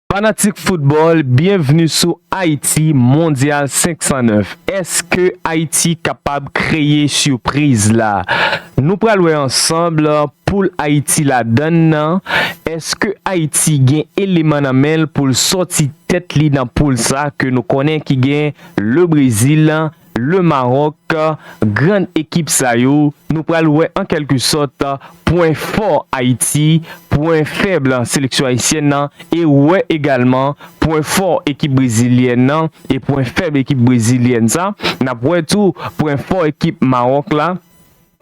Fanatik football byenvni sou Haïti mondial 509 eske Haïti kapab kreye surprise la nou pral wè ansanm poul Haïti ladann nan eske Haïti gen eleman nan menl poul sòti tèt li nan poul sa ke nou konnen ki gen le Brésil, Le Maroc, grann ekip sa yo nou pral wè an kèlke sòt pwen fò Ayiti, pwen fèb seleksyon ayisyèn nan e wè egalman pwen fò ekip brezilyèn nan e pwen fèb ekip brezilyèn sa, n ap wè tou pwen fò ekip Maroc la.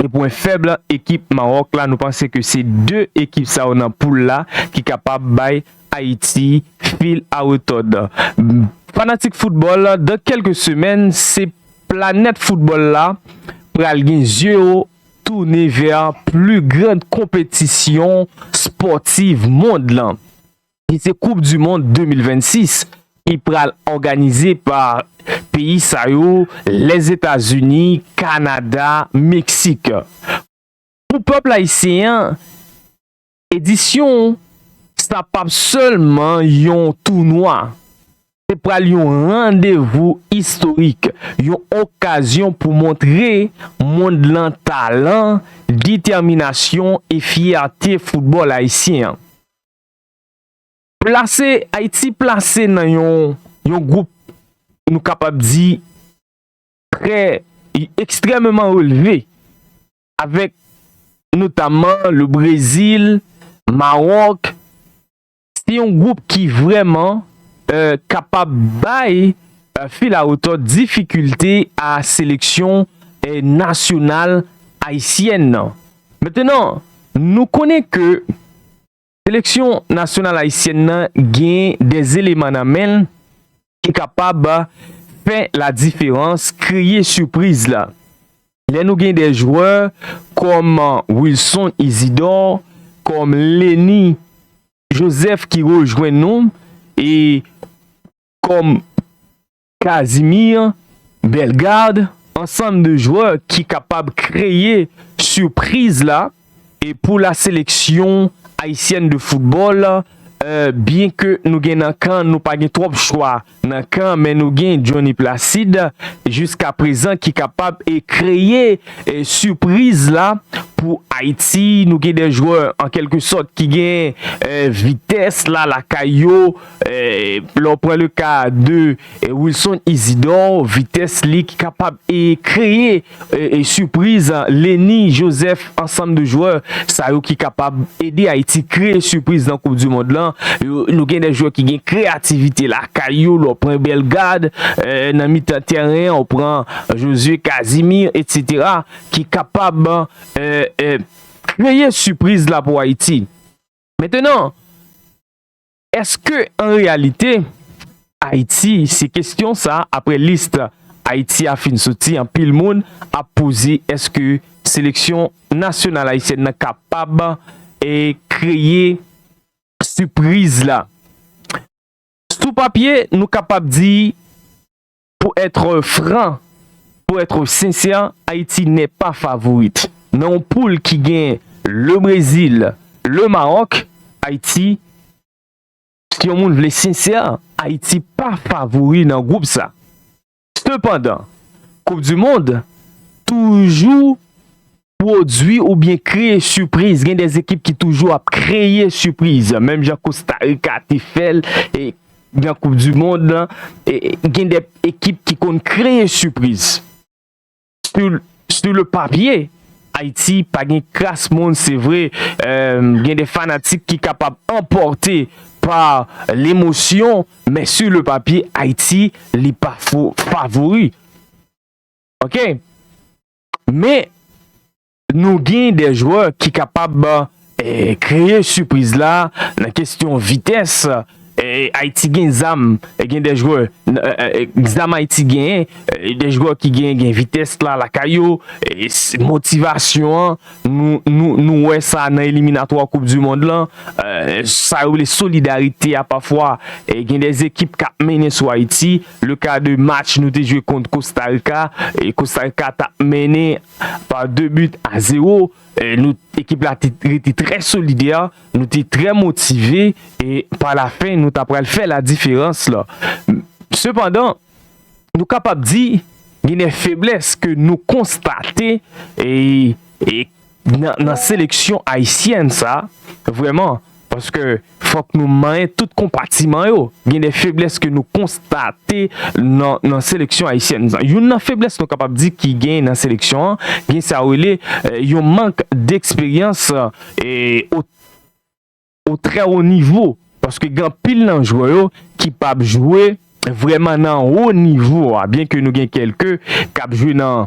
E pwen fèb ekip Mawòk la, nou panse ke se 2 ekip sa yo nan poul la ki kapab bay Ayiti fil a retòd. Fanatik foutbòl, dan kèlke semèn se planèt foutbòl la pral gen zye yo tounen vè pli grand konpetisyon spòtiv mond lan. ki se koup du mond 2026 ki pral òganize pa peyi sa yo Lèzetazini, Kanada, Meksik. Pou pèp ayisyen an edisyon sa pap sèlman yon tounwa, se pral yon randevou istorik, yon okazyon pou montre mond lan talan, detèminasyon e fyète foutbòl ayisyen an. Plase, Ayiti plase nan yon yon gwoup nou kapab di trè ekstrèmeman relve avèk notamman le Brezil, Mawòk, se yon gwoup ki vrèman kapab bay fil a retòt difikilte a seleksyon nasyonal ayisyèn nan. Mentenan, nou konnen ke Seleksyon nasyonal ayisyèn nan gen de eleman nan men l ki kapab fè la diferans, kreye sipriz la. Lè nou gen de jwè kòm Wilson Isidor, kòm Lenny Joseph ki rejwenn nou e kòm. Casimir, Bellegarde, ansanm de jwè ki kapab kreye sipriz la e pou la seleksyon ayisyèn de foutbòl byen ke nou gen nan kan nou pa gen twòp chwa nan kan men nou gen Jhonny Placide jiska prezan ki kapab e kreye sipriz la pou Ayiti nou gen de jwè an kelke sòt ki gen vitès la lakay yo. Lè w pran le ka de Wilson Isidor, vitès li ki kapab e kreye sipriz, Lenny Joseph, ansanm de jwè sa yo ki kapab ede Ayiti kreye sipriz nan koup di mond lan. Nou gen de jwè ki gen kreyativite lakay yo, lè w pran Bellegarde, nan mitan tèren an ou pran Josué Casimir etc. Ki kapab kreye sipriz la pou Ayiti. Mentenan. Eske an reyalite Ayiti se kestyon sa apre list Ayiti a fin soti anpil moun ap poze eske seleksyon nasyonal ayisyèn nan kapab kreye sipriz la? Sou papye nou kapab di Pour etre franc, pour etre sincère, Haïti n'est pas favorite. Nan yon poule ki gen Le Brésil, Le Maroc, Haïti, si yon moun vle sincère, Haïti pa favori nan groupe sa. Cependant, Coupe du Monde toujou Pwodwi oubyen kreye sipriz, gen de ekip ki toujou ap kreye sipriz, menm jan Kosta Rika te fè l nan koup di mond la, gen de ekip ki konn kreye sipriz. Su le papye, Ayiti pa gen kras moun se vre, gen de fanatik ki kapab anpòte pa lemosyon, men su le papye Ayiti li pa favori. Ok! Men nou gen de jwè ki kapab kreye sipriz la nan kesyon vitès. Ayiti gen zam, gen de jwè, zam Ayiti genyen, de jwè ki gen vitès la lakay yo, motivasyon an. Nou wè sa nan eliminatwa koup du mond lan, sa yo rele solidarite a pafwa gen de ekip kap mennen sou Ayiti, le ka de match nou te jwe kont Costa Rica, Costa Rica tap mennen par 2 but a 0, ekip la te rete trè solidè, nou te trè motive e pa la fen nou ta pral fè la diferans la. Sepandan. Nou kapab di gen de feblès ke nou konstate nan seleksyon ayisyèn sa vrèman paske fòk nou manyen tout konpatiman yo. Gen de feblès ke nou konstate nan seleksyon ayisyèn sa. Youn nan feblès nou kapab di ki gen nan seleksyon an, gen sa yo rele yon mank deksperyans. o trè wo nivo paske gen anpil nan jwè yo ki pa p jwe vrèman nan wo nivo a byen ke nou gen kèlke k ap jwe nan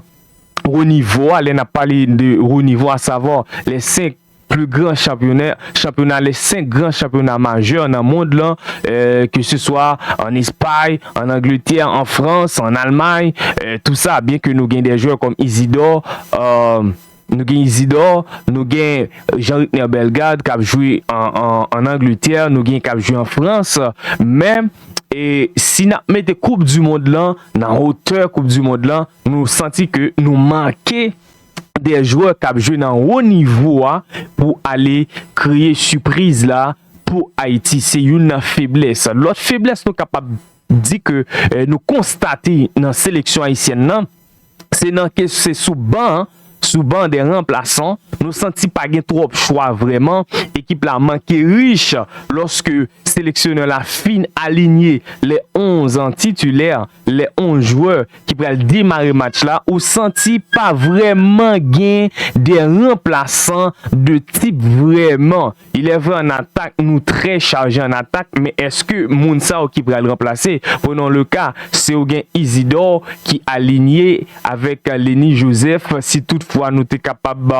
wo nivo a lè n ap pale de wo nivo a savwa lè 5 pli gran chanpyonè chanpyona lè 5 gran chanpyona majè nan mond lan ke se swa an espay an angletè an frans an almay tou sa byen ke nou gen de jwè kòm izidò a. Nou gen Isidor, nou gen Jean Ricner Bellegarde kap jwe an Angletè, nou gen kap jwe an Frans, men si nap mete koup du mond lan nan hotè koup du mond lan, nou santi ke nou manke de jwè kap jwe nan wo nivo a pou ale kreye sipriz la pou Ayiti, se youn nan feblès. Lòt feblès nou kapab di ke nou konstate nan seleksyon Ayisyèn nan, Se nan ke se sou ban, sou ban dè ranplasan, nou santi pa gen twòp chwa vrèman, ekip la manke rich lòske seleksyonè la fin alinye lè 11 titilè, lè 11 jwè ki pral demare match la, ou santi pa vrèman gen dè ranplasan de tip vrèman. Il est vrai an atak nou trè chaje an atak men eske moun sa yo ki pral ranplase prenons le ka se ou gen Isidor ki alinye avèk Lenny Joseph si tout fwa nou te kapab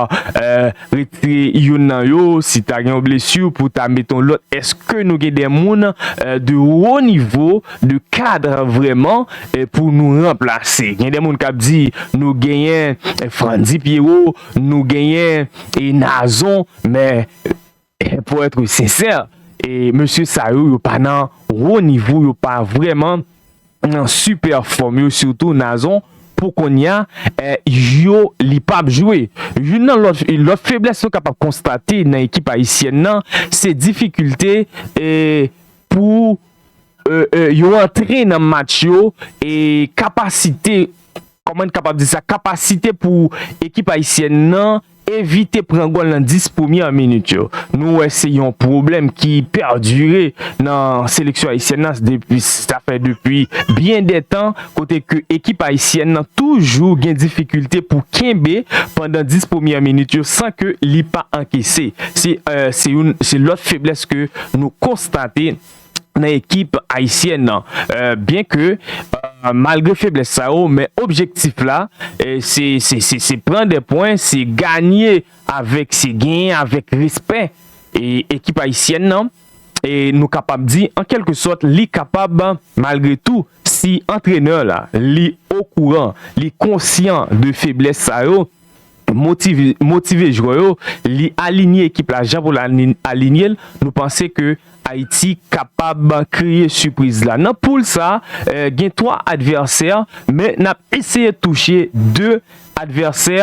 retire youn nan yo si ta gen yon blesur pou ta mete yon lòt eske nou gen de moun de wo nivo de cadre vrèman pou nou ranplase gen de moun kap di nou genyen Frantzy Pierrot nou genyen Nazon. Men pou etre sensè e mesye sa yo yo pa nan wo nivo yo pa vreman nan sipè fòm yo sitou Nazon pou konnya yo li pap jwe. Youn nan lòt feblès nou kapab konstate nan ekip ayisyèn nan se difikilte pou yo antre nan match yo e kapasite Kòman n kapab di sa? Kapasite pou ekip ayisyèn nan evite pran gòl nan 10 premyè minit yo. Nou wè se yon pwoblèm ki pèdire nan seleksyon ayisyèn nan depi sa fè depi byen de tan kote ke ekip ayisyèn nan toujou gen difikilte pou kenbe pandan 10 premyè minit yo san ke li pa ankese. Se youn se lòt feblès ke nou konstate. nan ekip ayisyèn nan byen ke malgre feblès sa yo men objektif la se pran 2 pwen se ganye avèk se genyen avèk respè ekip ayisyèn nan e nou kapab di an kèlke sòt li kapab malgre tou si antrenè la li okouran li konsyan de feblès sa yo. motive jwè yo, li alinye ekip la jan pou l alinye l, nou panse ke Ayiti kapab kreye sipriz la. Nan poul sa, gen 3 advèsè, men n ap eseye touche 2 advèsè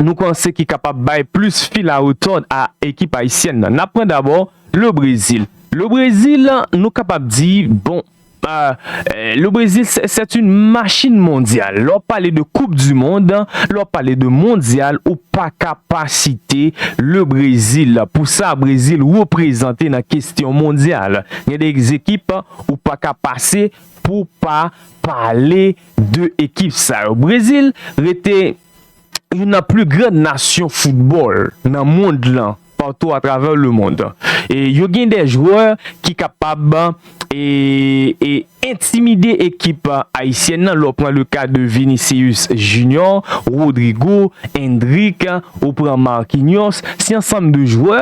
nou panse ki kapab bay plis fil a retòd a ekip ayisyèn nan. N ap pran dabò Le Brezil. Le Brezil, nou kapab di, bon, Le Brésil c'est une machine mondiale lè w pale de koup du monde lè w pale de mondyal ou pa ka pa site le Brésil pou sa Brésil reprezante nan kestyon mondyal gen de ekip ou pa ka pase pou pa pale de ekip sa yo Brésil rete youn nan plus grandes nations football nan mond lan. patou atravè lemond e yo gen de jwè ki kapab e entimide ekip ayisyèn nan lè w pran le ka de Vinicius Junior, Rodrygo, Endrick, ou pran Marquinhos se yon ansanm de jwè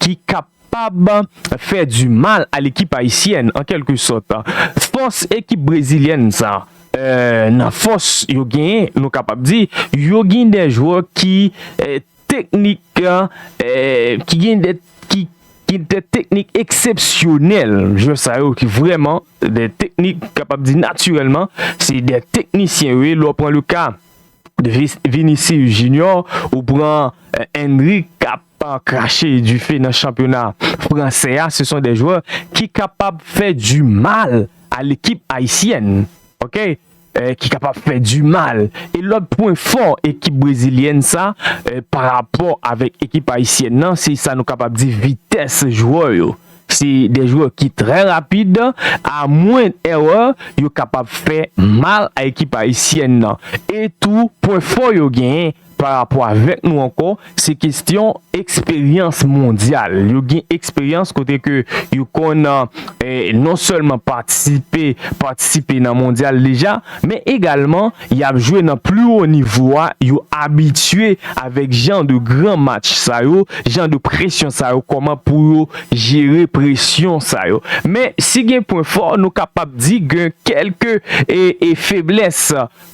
ki kapab fè di mal a lekip ayisyèn an kelke sòt fòs ekip brezilyèn sa nan fòs yo genyen nou kapab di yo gen de jwè ki Teknik ki gen de teknik eksepsyonèl, jwè sa yo ki vrèman de teknik kapab di natirèlman se de teknisyen yo ye, lè w pran le ka de Vinicius Junior, ou pran Endrick k ap krache dife nan chanpyona fransè a, se son de jwè ki kapab fè di mal a lekip ayisyèn. ki kapab fè du mal e lòt pwen fò ekip brezilyèn sa pa rapò avèk ekip ayisyèn nan se sa nou kapab di vitès jwè yo se de jwè ki trè rapid a mwen èrè yo kapab fè mal a ekip ayisyèn nan e tou pwen fò yo genyen Pa rapò avèk nou ankò, se kestyon eksperyans mondyal. Yo gen eksperyans kote ke yo konn non sèlman patisipe, patisipe nan mondyal deja, men egalman y ap jwe nan pli wo nivo a, yo abitye avèk jan de gran match sa yo, jan de presyon sa yo, kòman pou yo jere presyon sa yo. Men si gen pwen fò, nou kapab di gen kèlke feblès.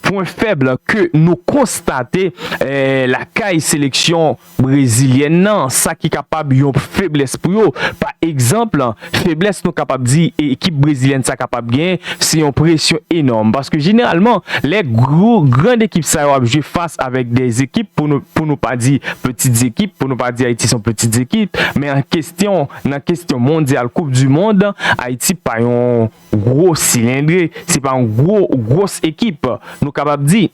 Pwen fèb ke nou konstate lakay seleksyon brezilyèn nan, sa ki kapab yon feblès pou yo. Pa egzanp, feblès nou kapab di ekip brezilyèn sa kapab gen, se yon presyon enòm. Paske jeneralman, lè gwo, gran ekip sa yo ap jwe fas avèk de ekip, pou nou pa di peti ekip, pou nou pa di Ayiti se yon peti ekip, men an kestyon, nan kestyon mondyal, koup di mond, Ayiti pa yon. gwo silendre, se pa yon gwo gwòs ekip nou kapab di.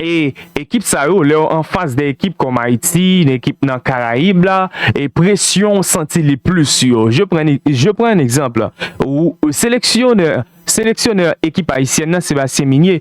E ekip sa yo lè yo anfas de ekip kòm Ayiti, de ekip nan Karayib la, e presyon ou santi li plis sou yo. Je pran je pran un exemple, ou seleksyonè seleksyonè ekip ayisyèn nan Sebastien Migné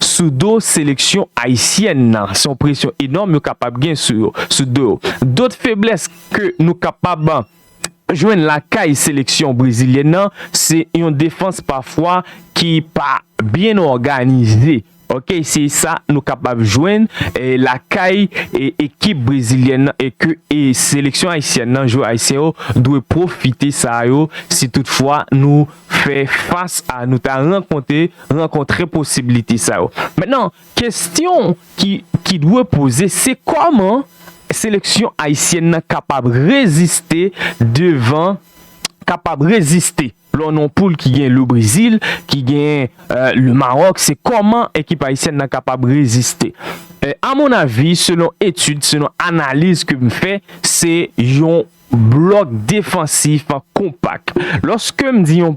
sou do seleksyon ayisyèn nan se yon presyon enòm yo kapab gen sou yo sou do yo dot feblès ke nou kapab jwenn lakay seleksyon brezilyèn nan se yon defans pafwa ki pa byen òganize ok se sa nou kapab jwenn lakay ekip brezilyèn nan e ke seleksyon ayisyèn nan jwè ayisyen yo dwe pwofite sa yo si tout fwa nou fè fas a nou ta rankonte. rankontre posibilite sa yo. Mentnan, kestyon ki dwe poze se koman seleksyon ayisyèn nan kapab reziste devan, kapab reziste lò nan yon poul ki gen Le Brezil, ki gen Le Maròk, se koman ekip ayisyèn nan kapab reziste. A mon avi, selon etid, selon analiz ke m fè, se yon blòk defansif konpak. Lòske m di yon.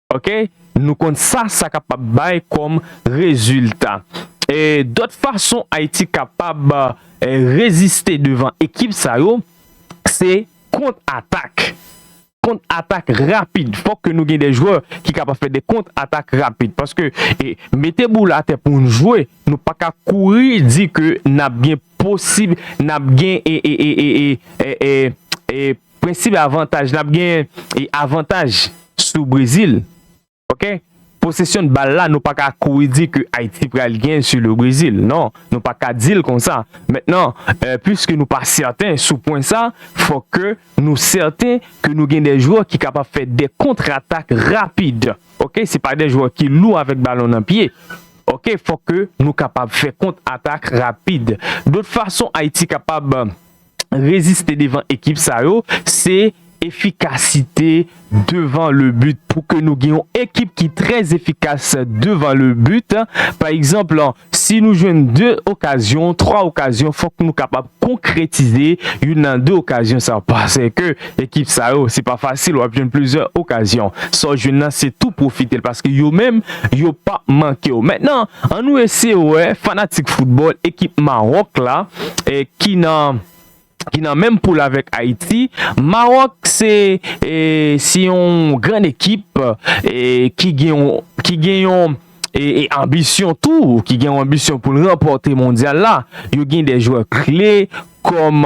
ok nou konn sa sa kapab bay kòm rezilta e dòt fason ayiti kapab reziste devan ekip sa yo se kont atak kont atak rapid fòk ke nou gen de jwè ki kapab fè de kont atak rapid paske e mete boul atè pou nou jwe nou pa ka kouri di ke nap gen posib nap gen e e e e e e e Prensip avantaj nap genyen e avantaj sou Brezil ok posesyon bal la nou paka kouri di ke Ayiti pral genyen sou le Brezil non nou paka dil konsa mentnan piske nou pa sèten sou pwen sa fòk ke nou sèten ke nou gen de jwè ki kapab fè de kontr atak rapid ok se pa de jwè ki lou avèk balon nan pye ok fòk ke nou kapab fè kontr atak rapid dot fason Ayiti kapab. reziste devan ekip sa yo se efikasite devan le but pou ke nou gen yon ekip ki trè efikas devan le but pa egzanp si nou jwenn 2 okazyon 3 okazyon fòk nou kapab konkretize youn nan 2 okazyon sa yo paseke Ekip sa yo se pa fasil wap jwenn plizyè okazyon sa w jwenn nan se tou pwofitel paske yo menm yo pap manke w mentnan an nou eseye wè fanatik foutbòl ekip Maroc la ki nan ki nan menm poul avèk Ayiti Maroc se e se yon grann ekip e ki gen yon ki gen yon e e anbisyon tou ki gen yon anbisyon poul ranpòte mondyal la yo gen de jwè kle kòm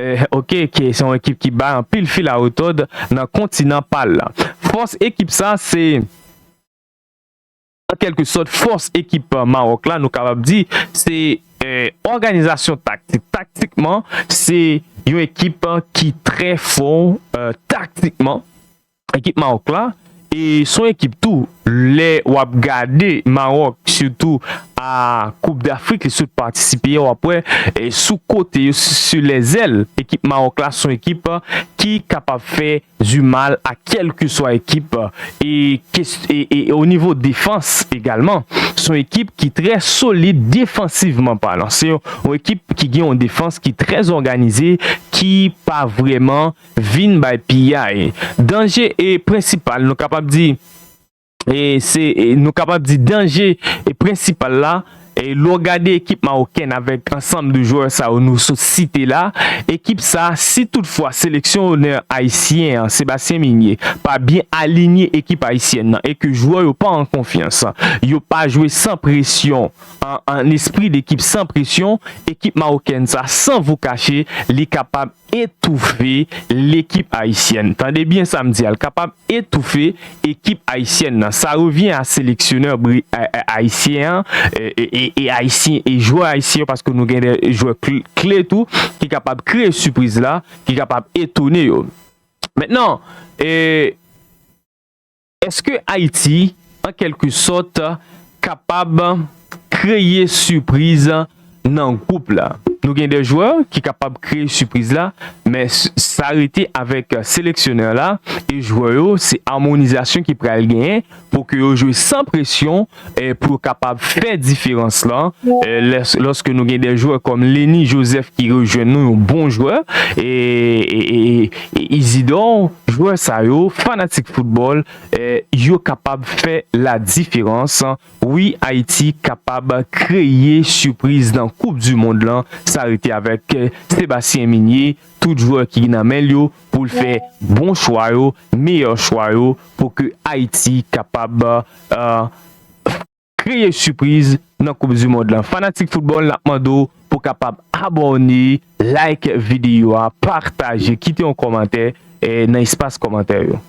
Eh ok ke se yon ekip ki bay anpil fil a retòd nan kontinan pal la. Fòs ekip sa se an kèlke sòt fòs ekip Mawòk la nou kapab di se òganizasyon taktik. Taktikman se yon ekip ki trè fò taktikman Ekip Mawòk la e son ekip tou lè wap gade Mawòk sitou a koup dafrik li sot patisipe a wap wè sou kote yo su lè zèl ekip Mawòk la son ekip ki kapab fè du mal a kèlkeswa ekip e e o nivo defans egalman son ekip ki trè solid defansivman palan se yon ekip ki gen yon defans ki trè zòganize ki pa vrèman. vin bay piyay. Danje e prensipal nou kapab di e se nou kapab di danje e prensipal la e lè w gade ekip mawokèn avèk ansanm de jwè sa yo nou sot site la ekip sa si tout fwa seleksyon onè ayisyen an Sebastien Migné pa byen alinye ekip ayisyèn nan e ke jwè yo pa an konfyans yo pa jwe san presyon an an espri de ekip san presyon ekip mawokèn sa san vo kache li kapab etoufe lekip ayisyèn tande byen sam di a l kapab etoufe ekip ayisyèn nan sa revyen a seleksyonè ayisyen an e ayisyen e jwè ayisyen yo paske nou gen de jwè kle tou ki kapab kreye sipriz la ki kapab etone yo mentnan e. Eske Ayiti, an kèlke sòt, kapab kreye sipriz nan gwoup la? Nou gen de jwè ki kapab kreye sipriz la, men sa rete avèk seleksyonè la e jwè yo, se amonizasyon ki pral genyen pou ke yo jwe san presyon. pou yo kapab fè diferans lan lòske nou gen de jwè kòm Lenny Joseph ki rejwenn nou yon bon jwè e Isidor jwè sa yo fanatik foutbòl yo kapab fè la diferans wi Ayiti kapab kreye sipriz nan koup di mond lan sa rete avèk Sébastien Migné tout jwè ki nan menl yo. pou l fè bon chwa yo, meyè chwa yo pou ke Ayiti kapab kreye sipriz nan koup du mond lan. Fanatik foutbòl nap mande w pou w kapab abòne, like videyo a, pataje, kite yon kòmantè nan espas kòmantè yo.